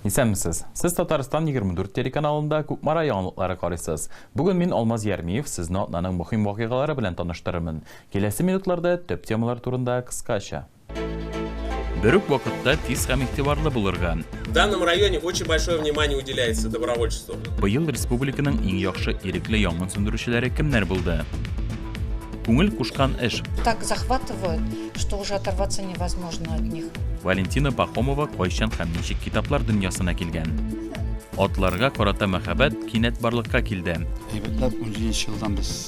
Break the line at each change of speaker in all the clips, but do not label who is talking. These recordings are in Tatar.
Исәнмесез. Сез Татарстан 24 телеканалында Кукмара яңалыклары карыйсыз. Бүген мин Алмаз Ярмиев сезне атнаның мөһим вакыйгалары белән таныштырырмын. Киләсе минутларда төп темалар турында кыскача. Бер үк вакытта тиз һәм игътибарлы булырга. В данном районе
очень большое внимание уделяется добровольчеству. Быел республиканың
иң яхшы ирекле янгын сүндерүчеләре кемнәр булды? Күңел кушкан эш. Так захватывают,
что уже оторваться невозможно от них. Валентина Пахомова
кайчан һәм ничек китаплар дөньясына килгән? Атларга карата мәхәббәт кинәт барлыкка килде. Әйбәтләп 17
елдан без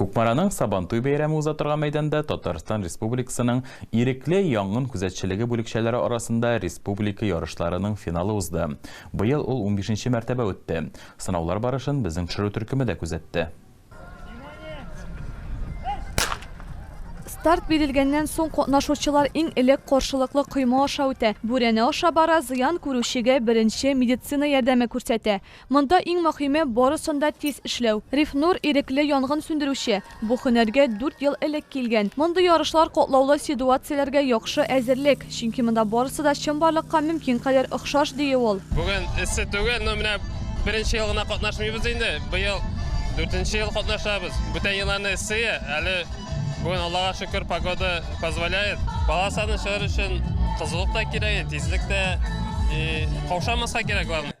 Кукмараның Сабантуй бәйрәме уза торган мәйданда Татарстан Республикасының ирекле янгын күзәтчелеге бүлекчәләре арасында республика ярышларының финалы узды. Быел ул унбишенче мәртәбә үтте. Сынаулар барышын безнең төшерү төркеме дә күзәтте.
Старт бирелгәннән соң катнашучылар иң элек каршылыклы койма аша үтә. Бүрәнә аша бара, зыян күрүчегә беренче медицина ярдәме күрсәтә. Монда иң мөһиме, барысын да тиз эшләү. Рифнур, ирекле янгын сүндерүче. Бу һөнәргә дүрт ел элек килгән. Мондый ярышлар, катлаулы сидуацияләргә яхшы әзерлек. Чөнки монда барысы да чынбарлыкка мөмкин кадәр охшаш, дие ул. Бүген эссе түгел,
но менә беренче ел гына катнашмыйбыз инде. Быел дүртенче ел катнашабыз. Бүтән елларны эссе, әле бүген, Аллага шөкер, погода позволяет. Бала саны чыгару өчен кызулык та кирәк, тизлек тә и каушамаска кирәк, главное.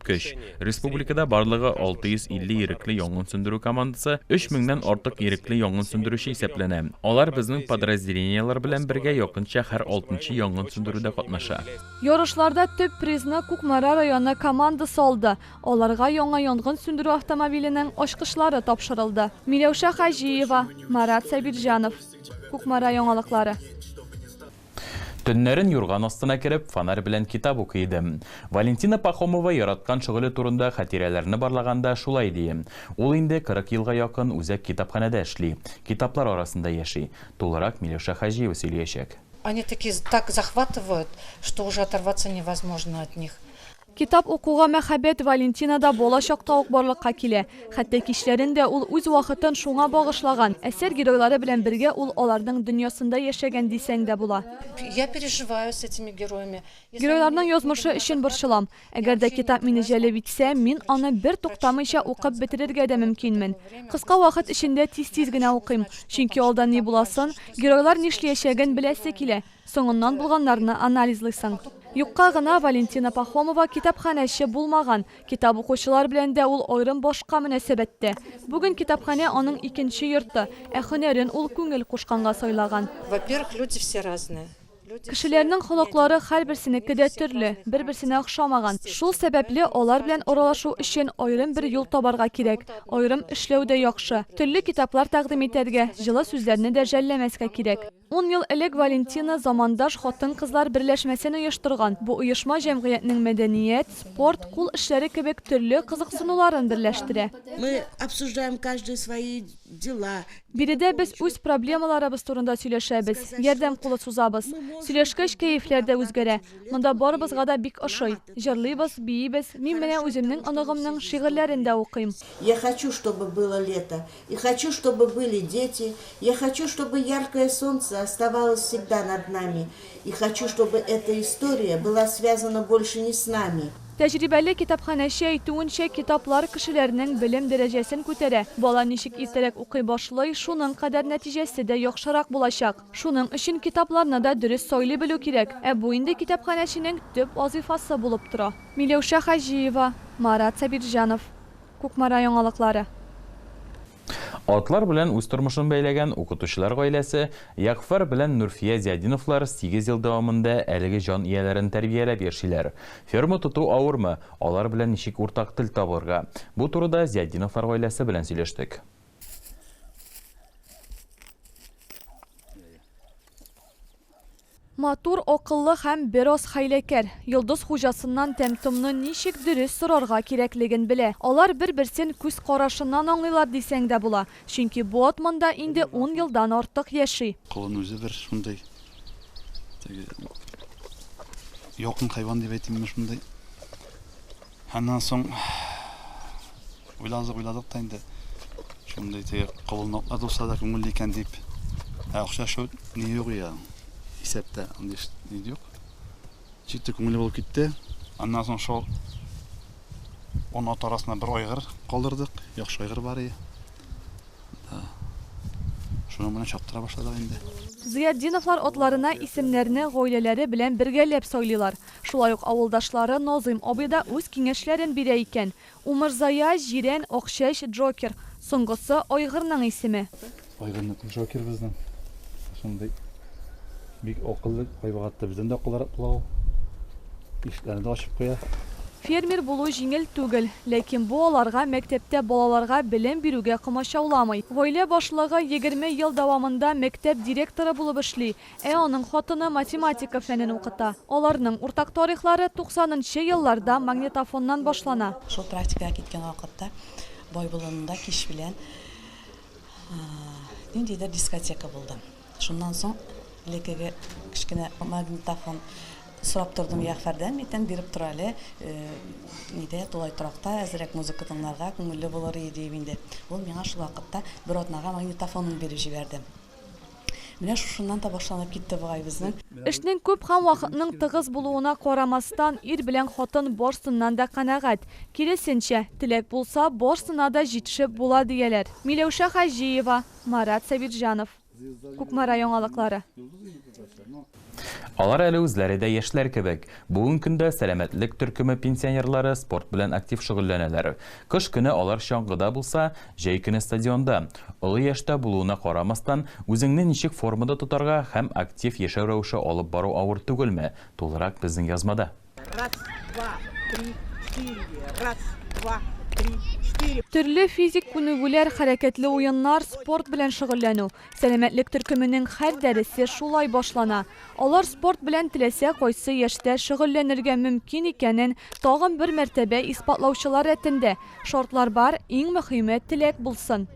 Көч. Республикада барлыгы 650 ирекле янгын сүндерү командасы, 3000 нән артык ирекле янгын сүндерүче исәпләнә. Алар безнең подразделениеләр белән бергә якынча һәр алтынчы янгын сүндерүдә катнаша. Ярышларда
төп призны Кукмара районы командасы алды. Аларга яңа янгын сүндерү автомобиленең ачкычлары тапшырылды. Миләүшә Хаҗиева, Марат Сабирҗанов. Кукмара яңалыклары. Төннәрен
юрган астына кереп, фонарь белән китап укый идем. Валентина Пахомова яраткан шөгыле турында хатирәләрне барлаганда шулай ди. Ул инде 40 елга якын үзәк китапханәдә эшли, китаплар арасында яши. Тулырак Миләүшә Хаҗиева сөйлиячәк. Они такие
так захватывают, что уже оторваться невозможно от них. Китап укуга
мәхәббәт Валентинада бала чакта ук барлыкка килә. Хәтта кичләрен дә ул үз вакытын шуңа багышлаган, әсәр геройлары белән бергә ул аларның дөньясында яшәгән дисәң дә була. Я переживаю
с этими героями, если они Геройларның меня язмышы
особенно өчен касаются, борчылам. я Әгәр дә вообще китап иногда мине не знаю, җәлеп итсә, сколько мин страниц аны бер прочту, туктамыйча да, до укып конца бетерергә дә короткое мөмкинмен. такое время, Кыска когда вакыт эчендә тиз-тиз генә укыйм, чөнки алда ни буласын, геройлар нишлиячәген беләсе килә. Соңыннан булганнарны анализлыйсың. Юкка гына Валентина Пахомова китапханәче булмаган, китап укучылар белән дә ул аерым башка мөнәсәбәттә. Бүген китапханә аның икенче йорты, ә һөнәрен ул күңел кушканга сайлаган. Во-первых, люди все
разные. Кешеләрнең
холыклары һәрберсенеке дә төрле, бер-берсенә охшамаган. Шул сәбәпле алар белән аралашу өчен аерым бер юл табарга кирәк, аерым эшләү дә яхшы. Төрле китаплар тәкъдим итәргә, җылы сүзләрне дә жәлләмәскә кирәк. Ун ел элек Валентина замандаш хатын-кызлар берләшмәсен оештырган. Бу оешма җәмгыятьнең мәдәният, спорт, кул эшләре кебек төрле кызыксынуларын берләштерә. Мы обсуждаем
каждый свои дела. Биредә без
үз проблемаларыбыз турында сөйләшәбез, ярдәм кулы сузабыз. Сөйләшкәч, кәефләр дә үзгәрә. Монда барыбызга да бик ошый. Җырлыйбыз, биибез, мин менә үземнең оныгымның шигырьләрен дә укыйм. Я хочу, чтобы
было лето. И хочу чтобы были дети, я хочу чтобы яркое солнце оставалось всегда над нами, и хочу чтобы эта история была связана больше не с нами. Тәҗрибәле
китапханәче әйтүенчә, китаплар кешеләрнең белем дәрәҗәсен күтәрә. Бала ничек иртәрәк укый башлый, шуның кадәр нәтиҗәсе дә яхшырак булачак. Шуның өчен китапларны да дөрес сайлый белү кирәк. Ә бу инде китапханәченең төп вазыйфасы булып тора. Миләүшә Хаҗиева, Марат Сабирҗанов. Кукмара яңалыклары.
Атлар белән үз тормышын бәйләгән укытучылар гаиләсе Ягъфәр белән Нурфия Зиадиновлар сигез ел дәвамында әлеге җан ияләрен тәрбияләп яшиләр. Ферма тоту авырмы, алар белән ничек уртак тел табылырга? Бу турыда Зиадиновлар гаиләсе белән сөйләштек.
Матур, акыллы һәм бераз хәйләкәр. Йолдыз хуҗасыннан тәм-томны ничек дөрес сорарга кирәклеген белә. Алар бер-берсен күз карашыннан аңлыйлар дисәң дә була, чөнки бу ат монда инде ун елдан артык яши. Колын үзе бер
шундый, теге, якын хайван дип әйтимме, шундый. Аннан соң уйладык, уйладык та инде. Шундый теге кабылмаклар булса да күңелле икән дип. Ә акча шул ни юк я. Исәптә андый ни юк. Җитте күңелле булып китте. Аннан соң шул он ат арасына бер айгыр калдырдык. Яхшы айгыр бар и. Да. Шуның белән чаптыра башладык инде. Зыятдиновлар
атларына исемнәрне гаиләләре белән бергәләп сайлыйлар. Шулай ук авылдашлары Назыйм абый да үз киңәшләрен бирә икән. Умырзая, Җирән, Акчәч, Джокер. Соңгысы, айгырның исеме. Айгырныкы
Джокерыбызның шундый бик акыллы айбык атты. Бездән дә акыллырак була ул. Ишекләрне дә ачып куя. Фермер булу
җиңел түгел. Ләкин бу аларга мәктәптә балаларга белем бирүгә комачауламый. Гаилә башлыгы егерме ел дәвамында мәктәп директоры булып эшли, Ә аның хатыны математика фәнен укыта. Аларның уртак тарихлары туксанынчы елларда магнитофоннан башлана. Шул практикага киткән
вакытта бай болынында кич белән ниндидер дискотека булды. Шуннан соң элеккеге кечкенә магнитофон сорап тордым, Ягъфәрдән митән биреп тор әле, нидә, тулай торакта әзрәк музыка тыңларга күңелле булыр иде, диеп инде. Ул миңа шул вакытта бер атнага магнитофонын биреп җибәрде. Менә шушыннан да башланып китте бугай безнең. Эшнең күп һәм
вакытның тыгыз булуына карамастан, ир белән хатын барсыннан да канәгать. Киресенчә, теләк булса, барсына да җитешеп була, дияләр. Миләүшә Хаҗиева, Марат Сабирҗанов. Кукмара яңалыклары.
Алар әле үзләре дә яшьләр кебек. Бүген көндә сәламәтлек төркеме пенсионерлары спорт белән актив шөгыльләнәләр. Кыш көне алар чаңгыда булса, җәй көне стадионда. Олы яшьтә булуына карамастан, үзеңне ничек формада тотарга һәм актив яшәү рәвеше алып бару авыр түгелме? Тулырак безнең язмада.
Төрле физик
күнегүләр, хәрәкәтле уеннар, спорт белән шөгыльләнү. Сәламәтлек төркеменең һәр дәресе шулай башлана. Алар спорт белән теләсә кайсы яшьтә шөгыльләнергә мөмкин икәнен тагын бер мәртәбә исбатлаучылар рәтендә. Шартлар бар, иң мөхиме, теләк булсын.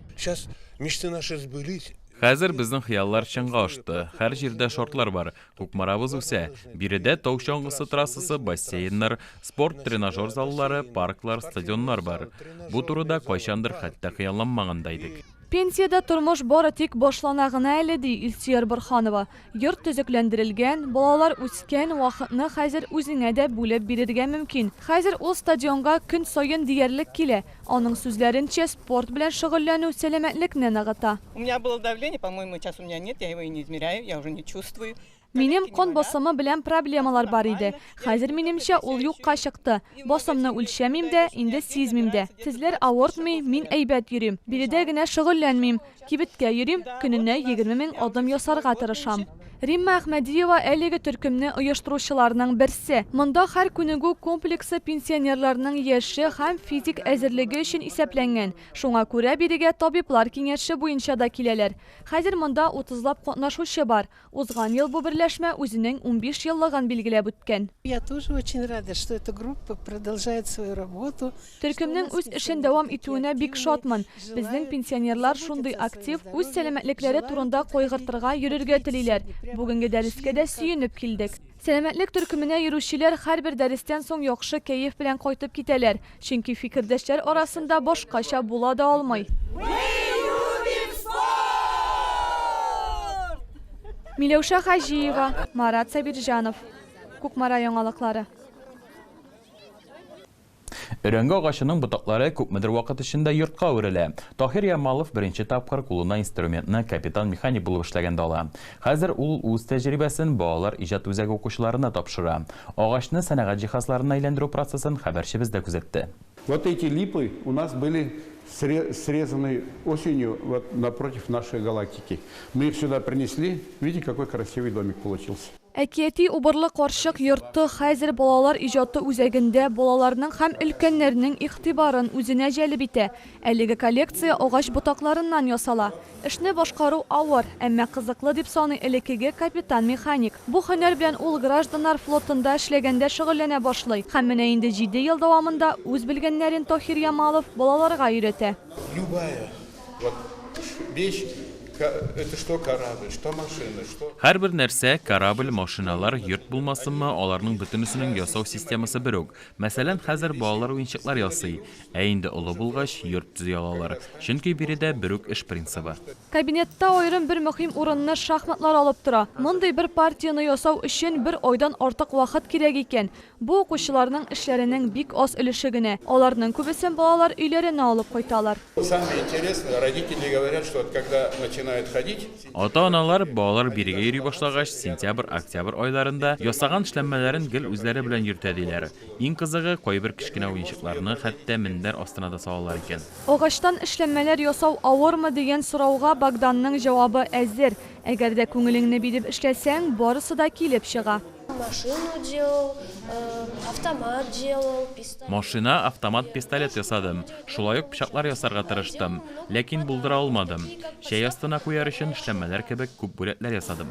Хәзер безнең
хыяллар чынга ашты. Һәр җирдә шартлар бар. Кукмарабыз үсә. Биредә тау чаңгысы трассасы, бассейннар, спорт-тренажер заллары, парклар, стадионнар бар. Бу турыда кайчандыр хәтта хыялланмаган да идек. Пенсиядә тормыш
бары тик башлана гына әле, ди Илсөяр Борһанова. Йорт төзекләндерелгән, балалар үскән, вакытны хәзер үзеңә дә бүлеп бирергә мөмкин. Хәзер ул стадионга көн саен диярлек килә. Аның сүзләренчә, спорт белән шөгыльләнү сәламәтлекне ныгыта. У меня было давление,
по-моему, сейчас у меня нет, я его и не измеряю, я уже не чувствую. Минем кан
басымы белән проблемалар бар иде. Хәзер, минемчә, ул юкка чыкты. Басымны үлчәмим дә, инде сизмим дә. Тезләр авыртмый, мин әйбәт йөрим. Биредә генә шөгыльләнмим. Кибеткә йөрим, көненә егерме мең адым ясарга тырышам. Римма Әхмәдиева әлеге төркемне оештыручыларның берсе. Монда һәр күнегү комплексы пенсионерларның яше һәм физик әзерлеге өчен исәпләнгән. Шуңа күрә бирегә табиблар киңәше буенча да киләләр. Хәзер монда утызлап катнашучы бар. Узган ел бу берләшмә үзенең унбиш еллыгын билгеләп үткән. Я тоже очень
рада, что эта группа продолжает свою работу, что у Төркемнең нас үз
эшен дәвам пенсионеры такие итүенә бик активные, шатмын. Безнең желают пенсионерлар заботиться шундый о своем актив, үз здоровье, сәламәтлекләре желают турында подходить, кайгыртырга, йөрергә подходить телиләр. сегодня прямо Бүгенге дәрескә шли дә как к сөенеп килдек. нас. Сәламәтлек төркеменә йөрүчеләр һәрбер дәрестән соң яхшы кәеф белән кайтып китәләр. Чөнки фикердәшләр арасында башкача була да алмый. Миләүшә Хаҗиева, Марат Сабирҗанов. Кукмара яңалыклары.
Өрәңге агачының ботаклары күпмедер вакыт эчендә йортка үрелә. Таһир Ямалов беренче тапкыр кулына инструментны капитан-механик булып эшләгәндә ала. Хәзер ул үз тәҗрибәсен балалар иҗат үзәге укучыларына тапшыра. Агачны сәнәгать җиһазларына әйләндерү процессын хәбәрчебез дә күзәтте. Вот
эти липы у нас были срезаны осенью вот напротив нашей галактики. Мы их сюда принесли. Видите, какой красивый домик получился. Әкияти убырлы
карчык йорты хәзер балалар иҗаты үзәгендә балаларның һәм өлкәннәрнең игътибарын үзенә җәлеп итә. Әлеге коллекция агач ботакларыннан ясала. Эшне башкару авыр, әмма кызыклы, дип саный элеккеге капитан-механик. Бу һөнәр белән ул гражданнар флотында эшләгәндә шөгыльләнә башлый һәм менә инде җиде ел дәвамында үз белгәннәрен Тохир Ямалов балаларга өйрәтә. Любая,
вот вещь, это что корабль, что машина, что. Һәрбер нәрсә,
корабль, машиналар, йорт булмасынмы, аларның бөтенесенең ясау системасы бер үк. Мәсәлән, хәзер балалар уенчыклар ясый. Ә инде олы булгач, йорт төзи алалар. Чөнки биредә берүк эш принцибы. Кабинетта аерым
бер мөһим урынны шахматлар алып тора. Мондый бер партияне ясау өчен бер айдан артык вакыт кирәк икән. Бу укучыларның эшләренең бик аз өлеше генә. Аларның күбесен балалар өйләренә алып кайталар. Самое интересное,
родители говорят, что когда начинают ходить. Ата-аналар,
балалар бирегә йөри башлагач, сентябрь-октябрь айларында ясаган эшләнмәләрен гел үзләре белән йөртә, диләр. Иң кызыгы, кайбер кечкенә уенчыкларны хәтта мендәр астына да салалар икән. Агачтан эшләнмәләр
ясау авырмы дигән сорауга Богданның җавабы әзер, Әгәр дә күңелеңне биреп эшләсәң, барысы да килеп чыга. Машину
делал, автомат делал, пистолет. Машина, автомат,
пистолет ясадым. Шулай ук пычаклар ясарга тырыштым. Ләкин булдыра алмадым. Чәй астына куяр өчен эшләнмәләр кебек күп бүләкләр ясадым.